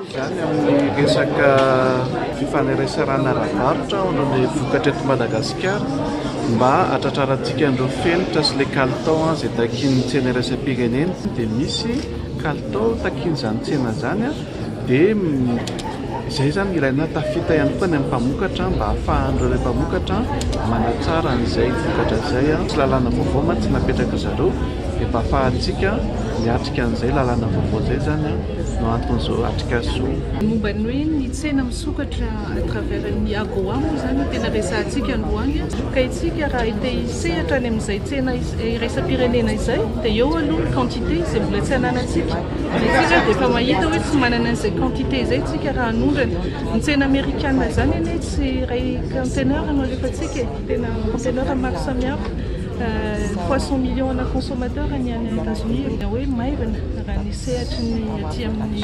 Izany amin'ny resaka fifaneraserana ara-barotra ao ny vokatra eto Madagasikara mba hatratrarantsika an'ireo fenitra sy ilay kalitao izay takian'ny tsena iraisam-pirenena dia misy kalitao takian'izany tsena izany dia Izay izany no ilaina, tafita ihany koa ny amin'ny mpamokatra mba hahafahan'ireo ilay mpamokatra manatsara an'izay vokatra izay, tsy lalàna vaovao mantsy napetrak'i zareo dia mba hahafahantsika miatrika an'izay lalàna vaovao izay izany no anton'izao atrikasa izao. Ny momba ny hoe ny tsena misokatra à travers ny AGOA moa izany no tena resahantsika androany, ka isika raha te hisehatra any amin'izay tsena iraisam-pirenena izay dia eo aloha ny quantité izay mbola tsy ananantsika, Isika dia efa mahita hoe tsy manana an'izay quantité izay isika raha hanondrana. Ny tsena amerikana izany anie tsy iray conteneur no alefantsika e, tena conteneur maro samihafa. Trois cent millions ana consommateurs ny any Etats-Unis, dia hoe maivana raha ny sehatry ny aty amin'ny